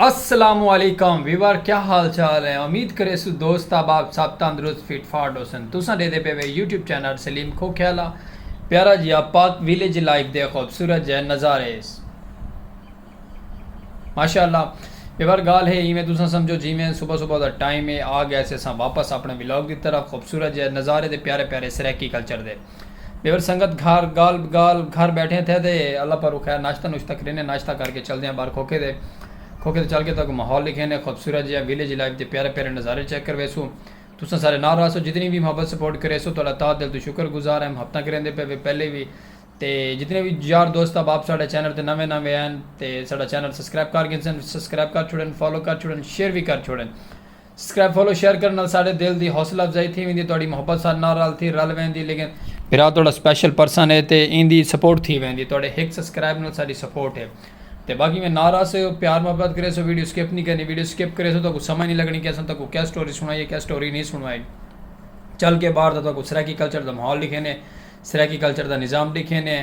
السلام علیکم ویور کیا حال چال ہیں امید کرے سو دوست احباب سب تندرست فٹ فاٹ ہوسن تساں دے دے پے وے یوٹیوب چینل سلیم کھو کھیالا پیارا جی آپ پاک ویلیج لائف دے خوبصورت جے نظارے اس ماشاءاللہ ویور گال ہے ایویں تساں سمجھو جی میں صبح صبح دا ٹائم ہے آ گیا سے ساں واپس اپنے ولاگ دی طرف خوبصورت جے نظارے دے پیارے پیارے سریکی کلچر دے ٻیور سنگت گھر گال بگال گھر بیٹھیں تھے تے اللہ پاروں خیر ناشتہ نوشتہ کرینے ناشتہ کر کے چلدے آں باہر کھوکھے تے کھوکھے تے چل کے تہاکوں ماحول ݙکھینے خوبصورت جیہا ویلیج لائف دے پیارے پیارے نظارے چیک کرویسوں تساں سارے نال راہسو جتنی وی محبت سپورٹ کریسو تہاڈا تہہ دل توں شکر گزار ہیم ہفتاں کریندے پئے وے پہلے وی تے جتنے وی یار دوست احباب ساڈے چینل تے نویں نویں ہین تے ساڈا چینل سبسکرائب کر گھنسن سبسکرائب کر چھوڑن فالو کر چھوڑن شیئر وی کر چھوڑن۔ سکرائب فالو شیئر کرن نال ساڈے دل دی حوصلہ افزائی تھی ویندی تہاڈی محبت ساڈے نال رل تھی رل ویندی لیکن بھرا تہاڈا سپیشل پرسن ہے تے ایندی سپورٹ تھی ویندی تہاڈے ہک سسکرائب نال ساڈی سپورٹ ہے تے باقی میں نال آسے ہو پیار محبت کرے سو ویڈیو سکپ نہیں کرنی ویڈیو سکپ کرے سو تہاکو سمجھ نہیں لگنی کہ اساں تہاکو کیا سٹوری سنائی کیا سٹوری نہیں سنائی چل کے باہر دا تہاکو سرائیکی کلچر دا ماحول ڈکھینے سرائیکی کلچر دا نظام ڈکھینے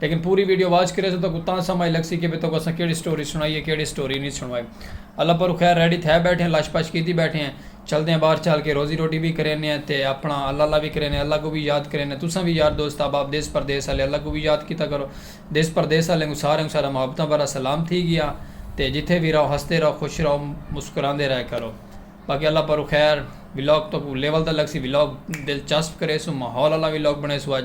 لیکن پوری ویڈیو واچ کریسو تاں کو تاں سمجھ لگسی کہ بھئی تاں کو اساں کیڑی سٹوری سنڑائی ہے کیڑی سٹوری نی سنڑوائی اللہ پرو خیر ریڈی تھے بیٹھے ہیں لش پش کیتی بیٹھے ہیں چلدے ہیں باہر چل کے روزی روٹی وی کرینے ہیں تے اپنا اللہ اللہ وی کرینے ہیں اللہ کو وی یاد کرینے ہیں تساں وی یار دوست احباب دیس پردیس آلے اللہ کو وی یاد کیتا کرو دیس پردیس آلے کوں سارے کوں سارا محبتاں بھرا سلام تھی گیا تے جتھے وی رہو ہسدے رہو خوش رہو مسکراندے رہے کرو باقی اللہ پرو خیر ولاگ تاں کو لیول دا لگسی ولاگ دلچسپ کریسوں ماحول آلا ولاگ بنڑیسوں اج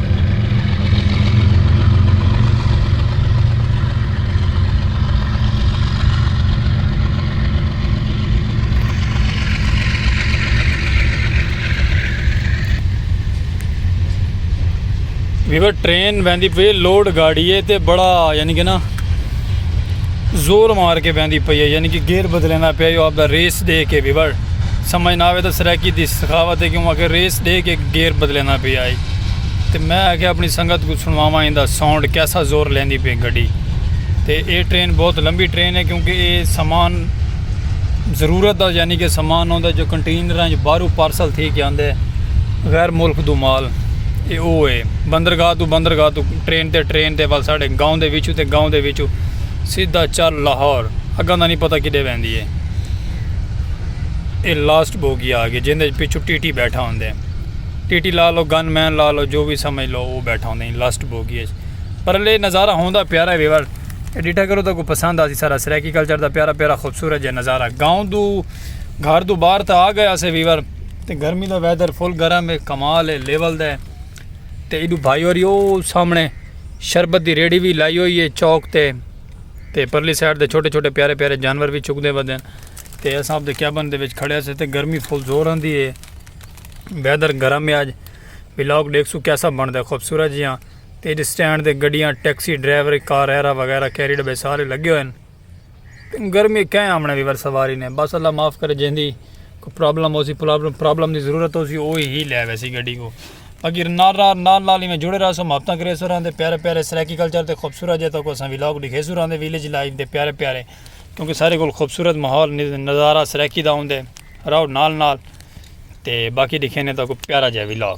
ویور ٹرین ویندی پی لوڈ گاڑی ہے تے بڑا یعنی کہ نا زور مار کے ویندی پی ہے یعنی کہ گیئر بدلینا پیا جو آپ دا ریس دے کے ویور سمجھ نہ آوے تو سرائیکی دی سخاوت ہے کیوں کہ ریس دے کے گیئر بدلینا پیا ہے تے میں آکھیا اپنی سنگت کوں سنڑواواں ایندا ساؤنڈ کیسا زور لیندی پئی گڈی تے اے ٹرین بہت لمبی ٹرین ہے کیونکہ اے سامان ضرورت دا یعنی کہ سامان ہوندا جو کنٹینراں جو باہرو پارسل تھی کے آندے غیر ملک دو مال اے او اے بندرگاہ دو بندرگاہ دو ٹرین تے ٹرین تے ول ساڈے گاؤں دے وچوں تے گاؤں دے وچوں سیدھا چل لاہور اگاں دا نہیں پتہ کڈے ویندی اے اے لاسٹ بوگی آ گئی جیندے پچھو ٹی ٹی بیٹھا ہوندے۔ ٹی ٹی لا لو گن مین لا لو جو وی سمجھ لو او بیٹھا ہوندا ایں لاسٹ بوگی اچ پر لے نظارہ ہوندا پیارا ہے ویور اے ڈیٹھا کرو تہاکوں پسند آسی سارا سرائیکی کلچر دا پیارا پیارا خوبصورت جے نظارہ گاؤں دو گھر دو باہر تھا آ گئے اسے ویور تے گرمی دا ویدر فل گرم ہے کمال ہے لیول دا ہے تے ایڈو بھائی اور یو سامنے شربت دی ریڑی وی لائی ہوئی ہے چوک تے تے پرلی سائیڈ دے چھوٹے چھوٹے پیارے پیارے جانور وی چکدے ودن تے اساں اپ دے کیبن دے وچ کھڑے سے تے گرمی فل زور آندی ہے ویدر گرم ہے اج ولاگ دیکھ سو کیسا بن دے خوبصورت جی ہاں تے جی سٹینڈ دے گڈیاں ٹیکسی ڈرائیور کار ایرا وغیرہ کیری ڈبے سارے لگے ہوئے ہیں گرمی کہیں آمنے بھی بر سواری نے بس اللہ معاف کرے جہن دی کوئی پرابلم ہو سی پرابلم دی ضرورت ہو سی وہی ہی لے ویسی گڈی کو باقی نال نال نال نال میں جڑے رہا سو ماپتاں کرے سو رہن دے پیارے پیارے سرائیکی کلچر دے خوبصورت جہاں تک اساں ولاگ دکھے سو رہن دے ویلیج لائف دے پیارے پیارے کیونکہ سارے کول خوبصورت ماحول نظارہ سرائیکی دا ہوندے راؤ نال نال تے باقی ڈکھینے تاکو پیارا جائے vlog.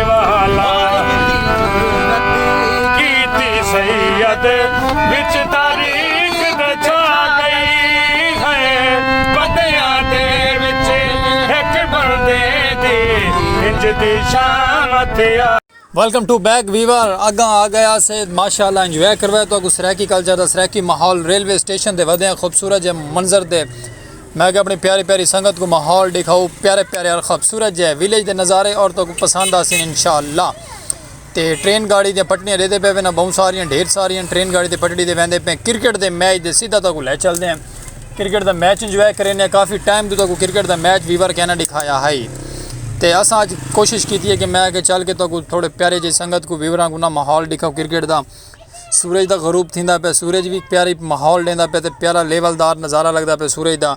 Welcome to back viewer اگاں آ گیا سے ماشاءاللہ انجوائے کروائے تو اگو سریکی کلچر دا سریکی ماحول ریلوے سٹیشن دے ودے ہیں خوبصورت جے منظر دے میں کہ اپنی پیاری پیاری سنگت کو ماحول دکھاؤ پیارے پیارے اور خوبصورت جے ویلیج دے نظارے اور تو پسند آسن انشاءاللہ تے ٹرین گاڑی دے پٹڑیاں دیتے پے وینا بہت ساریاں ڈھیر ساریاں ٹرین گاڑی دے پٹڑی دے ویندے پے کرکٹ دے میچ دے سیدھا تو کو لے چل دے ہیں کرکٹ دا میچ انجوائے کرینے کافی ٹائم دے تو کو کرکٹ دا میچ ویور کہنا دکھایا ہے تے اساں اج کوشش کیتی ہے کہ میں کہ چل کے تو کو تھوڑے پیارے جے سنگت کو ویوراں کو نہ ماحول دکھاؤ کرکٹ دا سورج دا غروب تھیندا پیا سورج وی پیاری ماحول ݙیندا پیا تے پیارا لیول دار نظارہ لگدا پیا سورج دا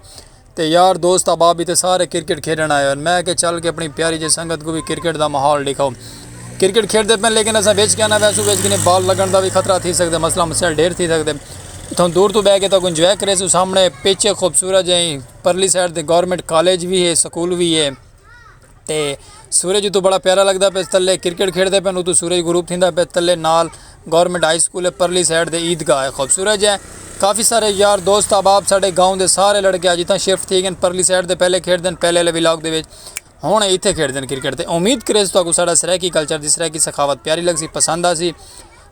تے یار دوست احباب بھی تے سارے کرکٹ کھیݙݨ آئے ہوئے میں کہ چل کے اپݨی پیاری جی سنگت کوں بھی کرکٹ دا ماحول ݙیکھاؤ کرکٹ کھیݙدے پئے لیکن اساں وچ کیا نہ ویسوں وچ کنی بال لڳݨ دا وی خطرہ تھی سڳدے مسئلہ مسائل ݙھیر تھی سڳدے اتھاں دور توں ٻہہ کے تہاکوں انجوائے کریسوں سامݨے پچ ہے خوبصورت جئیں پرلی سائیڈ تے گورنمنٹ کالج وی ہے سکول وی ہے تے سورج اتو بڑا پیارا لگدا پے تلے کرکٹ کھیڈدے پن اتو سورج غروب تھیندا پے تلے نال گورنمنٹ ہائی سکول ہے پرلی سائیڈ تے عید گاہ ہے خوبصورت جے کافی سارے یار دوست احباب ساڈے گاؤں دے سارے لڑکے اج اتھاں شفٹ تھی گن پرلی سائیڈ تے پہلے کھیڈدے ہن پہلے والے ولاگ دے وچ ہن اتھے کھیڈدے ہن کرکٹ تے امید کریس تہاکوں ساڈا سرائیکی کلچر دی سرائیکی ثقافت پیاری لگسی پسند آسی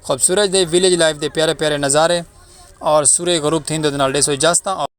خوبصورت جے ویلیج لائف دے پیارے پیارے نظارے اور سورج غروب تھیندے دے نال ڈیسو اجازتاں۔